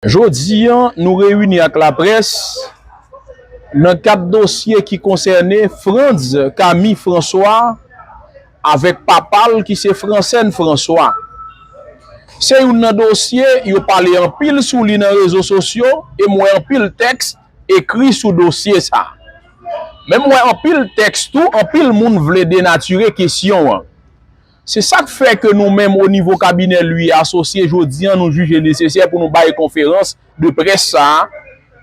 Jodi an, nou reyini ak laprès nan kad dosye ki konsène Frantz Camille François avèk papa l ki se Francène François. Se youn nan dosye yo pale anpil sou li nan rezo sosyo e m wè anpil tèks ekri sou dosye sa. Men m wè anpil tèks tou anpil moun vle denatire kesyon an. Se sa k fè ke nou menm o nivo kabinè Louis Associés jodi an nou jije nesesè pou nou bay konferans de près sa a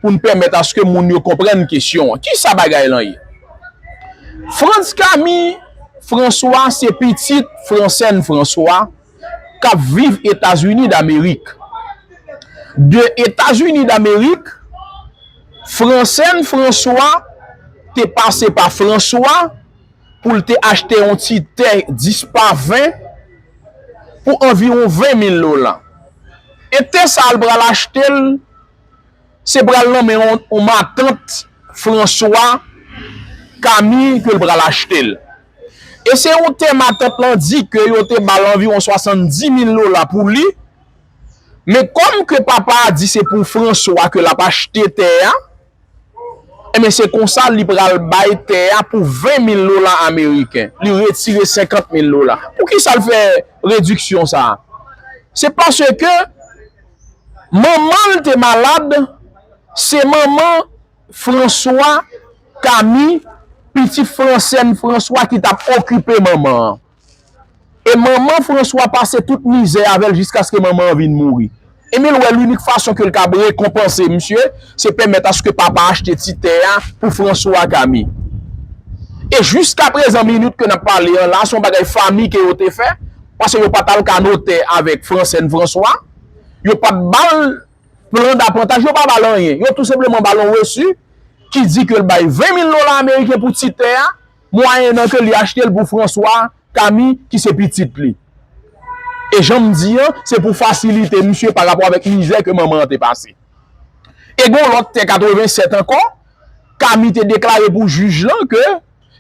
pou n pèmèt aske moun yo konprann kesyon an. Ki sa bagay lan ye? Frantz Camille François se pitit Francène François k ap viv Etazini Damerik. De Etazini Damerik, Francène François te pase pa François, pou l te achte yon ti tè 10 pa 20 pou anviwon 20 mil lolan. E tè sa a l pral achte l, se pral nan men yon matant Franswa, Kami, ke l pral achte l. E se yon tè matant lan di ke yo te ba l anviwon 70 mil lolan pou li, men kòm ke papa a di se pou Franswa ke l ap achte tè a, Enben se konsa li pral bay tè a pou 20 mil dola ameriken. Li retire 50 mil dola. Poukisa l fè rediksyon sa a? Se paske manman l te malad, se manman Franswa, Kami, pitit Fransèn Franswa ki t ap okipe manman an. E manman Franswa pase tout mizè avè l jiskaske manman an vin mouri. Emil wè linik fason ke l kab rekonpanse misye, se pèmèt aske papa achte ti tè a pou Franswa ak Ami. E jiskaprezan minit ke n ap pale an la, se yon bagay fami ke yo te fè, pase yo pa t al ka notè avèk Fransèn Franswa, yo pa t ba l plan dapantaj, yo pa ba l anyen. Yo tou senpleman ba l yon resu ki di ke l bay 20 mil dola ameriken pou ti tè a. Mwayennan ke li achte l pou Franswa Kami ki se pitit li. E jan m di an, se pou fasilite misye pa rapò avèk mizè ke manman an te pase. E gen yon lòt tè 87 ankò, Kami te deklare pou jij lan ke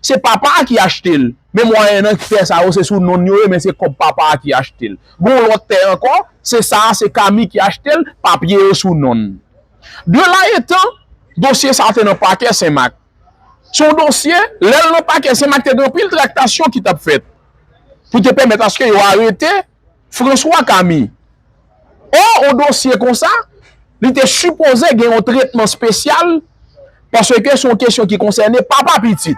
se papa a ki achte l. Men mwayennan ki tè sa yo se sou non n yo ye men se kòb papa a ki achte l. Gen yon lòt tè ankò, se sa a se Kami ki achte l, papye yo sou non n. De la etan, dosye sa a te nan pakè Senmak. Se yon dosye, lè l nan pakè Sen Mak te gen anpil traktasyon ki t ap fèt pou te pèmèt aske yo arete Franswa Kami. Ò yon dosye konsa li te sipoze gen yon tretman spesyal paske se yon kesyon ki konsène papa pitit.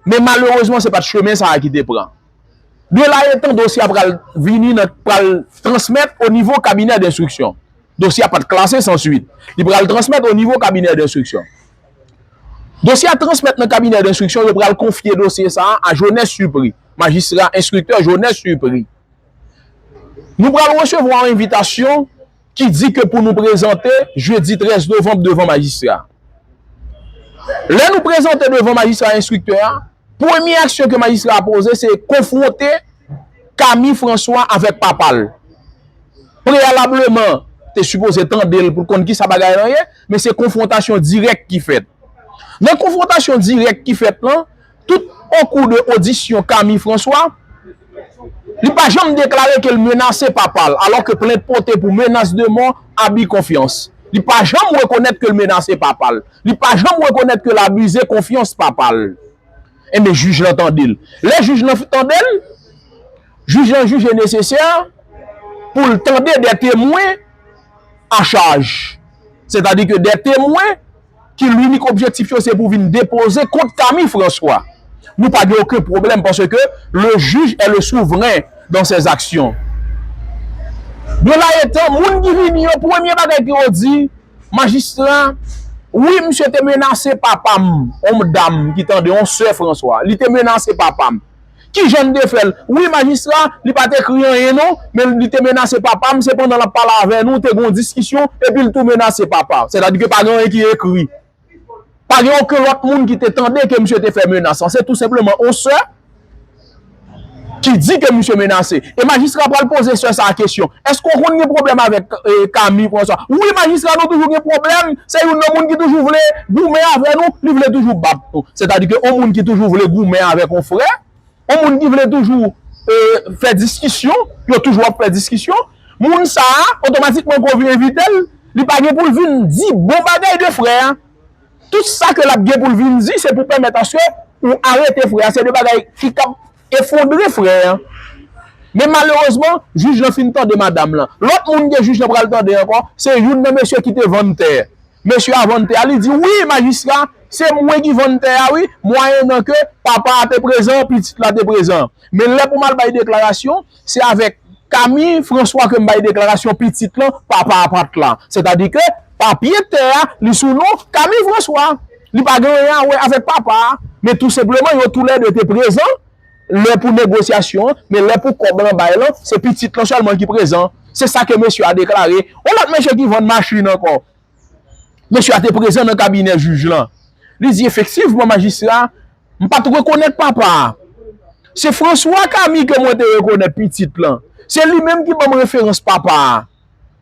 Men malerezman se pa t chemen sa a ki te pran. De la etan dosye a pral vini nan pral transmèt onivo kabinè denstriksyon. Dosye a pa t klase san suit. Li pral transmèt o nivo kabinè denstriksyon. Dosye a transmèt nan kabinè denstriksyon, yo pral konfye dosye sa a a Jones Supri, Majistra Enstriktè Jones Supri. Nou pral resevwa yon envitasyon ki di ke pou nou prezante jedi 13 novanm devan Majistra a. Lè nou prezante devan Majistra Enstriktè a, Premye aksyon ke majistra a poze se konfwonte Camille François avèk papa l. Preyalableman, te sipoze tande l pou l konn kisa bagay lan ye, men se konfwontasyon dirèk ki fèt. Nan konfwontasyon dirèk ki fèt lan, tout okou de odisyon Camille François, li pa janm deklare ke l menase papa l, alò ke plent pote pou menas de mò, abi konfyans. Li pa janm rekonèt ke l menase papa l. Li pa janm rekonèt ke l abize konfyans papa l. Enben, jij lan tande l. Lè jij lan fin tande l, jij lan jije nesesè pou l tande de temwen a chaj. Sètadi ke de temwen ki linik objektif yo se pou vin depoze kont Camille François. Nou pa gen oken pwoblèm paske le juge est le souverain dans ses actions. Belaetan, moun ki vini yo, premye bagay ke yo di, Majistra, Wi, misye te menase papa m, yon dam ki tande, yon sè Franswa. Li te menase papa m. Ki jan n te fè l? Wi, majistra, li pa t ekri anyen non, men li te menase papa m, se pandan l ap pale avè nou, te gen yon diskisyon, epi l tou menase papa. Sètadi ke pa gen anyen ki ekri. Pa gen oken lòt moun ki te tande ke misye te fè menas lan. Se tou senpleman yon sè ki di ke misye menase. E majistra pral poze sè sa a kesyon. Èske ou konn gen pwoblèm avèk Camille François? Wi majistra nou toujou gen pwoblèm. Se youn nan moun ki toujou vle goumen avè nou. Li vle toujou bat nou. Sètadi ke yon moun ki toujou vle goumen avèk yon frè, On moun ki vle toujou fè diskisyon, yo toujou ap fè diskisyon, moun sa a, otomatikman ke w vin envite l, li pa gen pou l vin di bon bagay de frè a. Tout sa ke l ap gen pou l vin di, se pou pèmèt aske ou arete frè a. Se de bagay ki kab efondre frè a. Men malerezman, jij lan fin tande madam lan. Lòt moun ke jij lan pral tande ankò, se youn nan mesye ki te vann tè. Mesye a vann tè a, li di, Wi, majistra, se mwen ki vann tè a wi, mwayennan ke papa a te prezan, pitit la te prezan. Men lè pou m al bay deklarasyon, se avèk Kami Franswa ke m bay deklarasyon pitit lan, papa a pa t la. Sètadi ke papye tè a, li sou non Kami Franswa. Li pa gen anyen a wè avèk papa a. Men tou senpleman, yo tou lè de te prezan, Lè pou negosyasyon an, men lè pou kòb lan bay lan, se pitit lan sèlman ki prezan. Se sa ke mesye a deklare. Yon lòt mesye ki vann machin ankò. Mesye a te prezan nan kabinè jij lan. Li di efektivman majistra, m pa t rekonèt papa a. Se François Camille ke mwen te rekonèt pitit lan. Se li menm ki ban m referans papa a.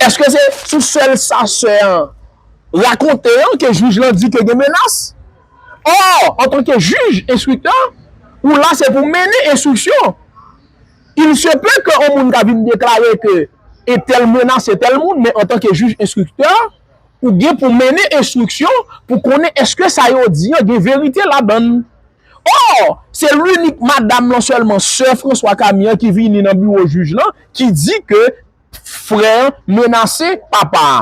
Eske se sou sèl sa sè an rakonte an ke jij lan di ke gen menas? Or, antanke jij, enstriktè, ou la se pou mennen enstriksyon. Il se peut ke on moun ka vin deklare ke entèl menase tèl moun, men antanke jij, enstriktè, ou gen pou mennen enstriksyon pou konnen eske sa yo di an gen verite ladan l. Or, se l'unique madam lan sèlman, sè François Camille an ki vini nan biwo jij lan, ki di ke frè an menase papa a.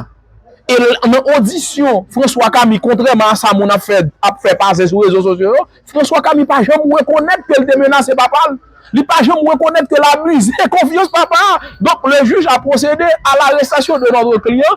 E nan odisyon François Camille, kontrèman a sa moun ap fè ap fè pase sou rezo sosyo yo, François Camille pa janm rekonèt ke l te menase papa l. Li pa janm rekonèt ke l abize konfyans papa a. Donk, le juge a procede à l'arrestation de notre client.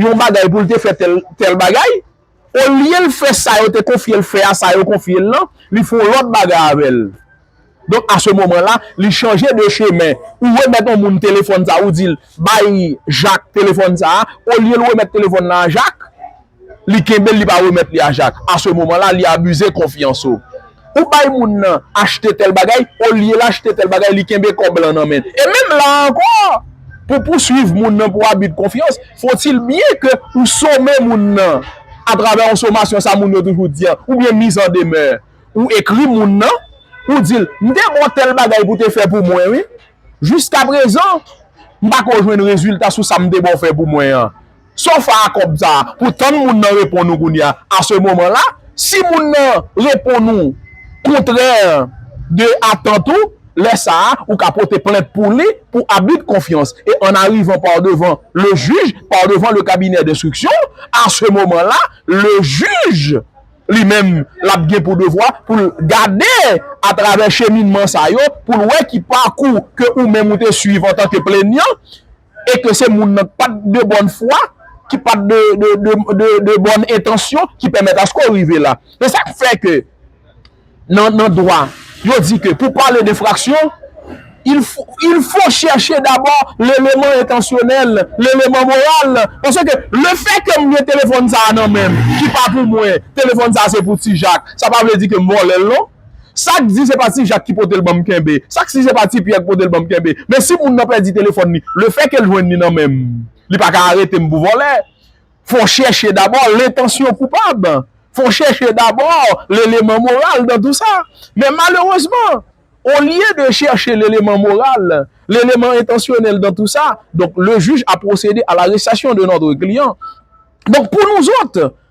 yon bagay pou l te fè tèl tèl bagay, olye l fè sa yo te konfye l fè a, sa yo konfye l lan, li fè yon lòt bagay avè l. Donk a se moman la, li chanje de chemen. Ou remèt yon moun telefòn sa a, ou di l, bay Jak telefòn sa a, olye l remèt telefòn lan a Jak, li kenbe l, li pa remèt li a Jak. A se moman la, li abize konfyans ou. Ou bay moun nan achte tèl bagay, olye l achte tèl bagay li kenbe kòb lan nan men l. E menm la a ankò, pou pouswiv moun nan pou abi de konfyans, fo-t-il byen ke ou some moun nan atravè yon somasyon sa moun yo toujou di an, oubyen mise en demeure. Ou ekri moun nan, ou di l, m te ba w tèl bagay pou w te fè pou mwen wi, jiskaprezan m pa ko jwenn rezilta sou sa m te ba w fè pou mwen an. Saw fè a kòb sa pou tann moun nan reponn ou kounya a ce moment là si moun nan reponn ou kontrè de atant ou lè sa ou ka pote plent pou li pou abus de confiance e an arivan par devan le jij par devan le kabinè denstriksyon a ce moment là le jij li menm lap gen pou devwa poul gade a travè cheminman sa yo poul wè ki pakou ke ou menm ou te swiv antan ke plenyan e ke se moun nan ki pat de bòn fwa, ki pat de bòn entansyon ki pèmèt aske w rive la. Se sa k fè ke nan dwa, yo di ke pou pale de fraksyon, il fo chèche dabò leleman entansyonèl, leleman moral. Paske le fè ke m gen telefòn sa a nan men m, ki pa pou mwen, telefòn sa a se pou Ti Jak, sa pa vle di ke m vòlè l non. Sak di se pa ti jak ki potel banm kenbe sak si se pa ti pyè ki potel banm kenbe men si moun nan pèdi telefòn li le fè kel jwenn li nan menm li pa ka aretem pou vòlè fon chèche dabò lentansyon koupab fon chèche dabò leleman moral dan tou sa men malerezman olye de chèche leleman moral leleman entansyonèl dan tou sa donk le jij a pwosede a larestasyon de notre kliyan donk pou nou zòt.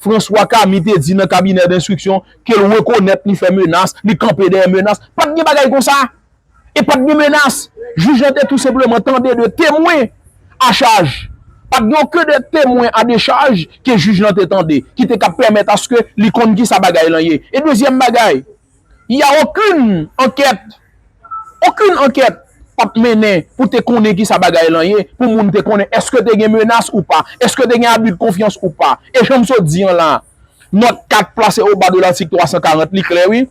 François Camy te di nan kabinè denstriksyon ke l rekonèt li fè menas, li kanpe dèyè menas. Pa t gen bagay konsa! E pa t gen menas! Jij lan te tou senpleman tande de temwen a chaj. Pa t gen oken de temwen a dechaj ke jij lan te tande ki te ka pèmèt aske li konn kisa bagay lan ye. E dezyèm bagay. Il y a aucune enquête, aucune enquête pat mennen pou te konnen ki sa bagay lan ye, pou moun te konnen eske te gen menas ou pa, eske te gen abus de confiance ou pa. E jan m sot di an la, nòt 4 plase au bas de l'article 340 li klè wi.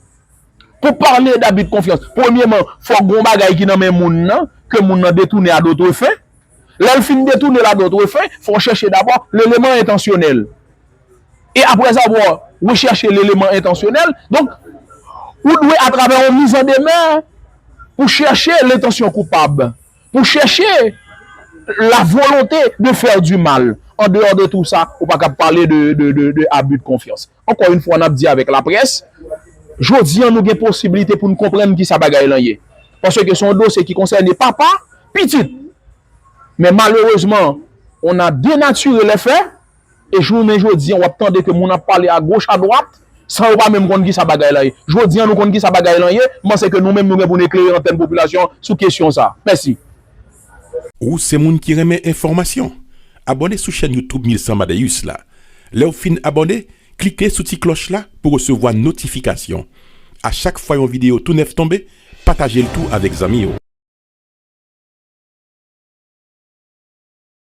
Pou pale d'abus de confiance, premyeman, fòk gon bagay ki nan men moun nan, ke moun nan detounen a d'autres fins. Lè l fin detoune l a d'autres fins, fò w chèche dabò l'element intentionnel. e aprèzavwa rechèche leleman entansyonèl, donk, ou dwe atravè yon mizandemè pou chèche lentansyon koupab, pou chèche la volonte de faire du mal. Andeyò de tou sa, ou pa kab pale de abus de confiance. Ankò yon fwa n ap di avèk laprès, jodi an nou gen posibilite pou n konprann kisa bagay lan ye. Paske se yon dosye ki konsène papa, pitit. Men malerezman, on a denature les faits. E jounen jodi an w ap tande ke moun ap pale a goch a dwat, san yo pa menm konn kisa bagay la ye. Jodi an nou konn kisa bagay lan ye, m panse ke nou menm nou gen pou nou eklere antèn popilasyon an sou kesyon sa. Mèsi. Ou se moun ki renmen enfòmasyon? Abòne sou chèn YouTube 1100 Amadeus la. Lè w fin abòne, klike sou ti klòch la pou resevwa notifikasyon. A chak fwa yon videyo tou nèf tonbe, pataje l tou avèk zanmi w.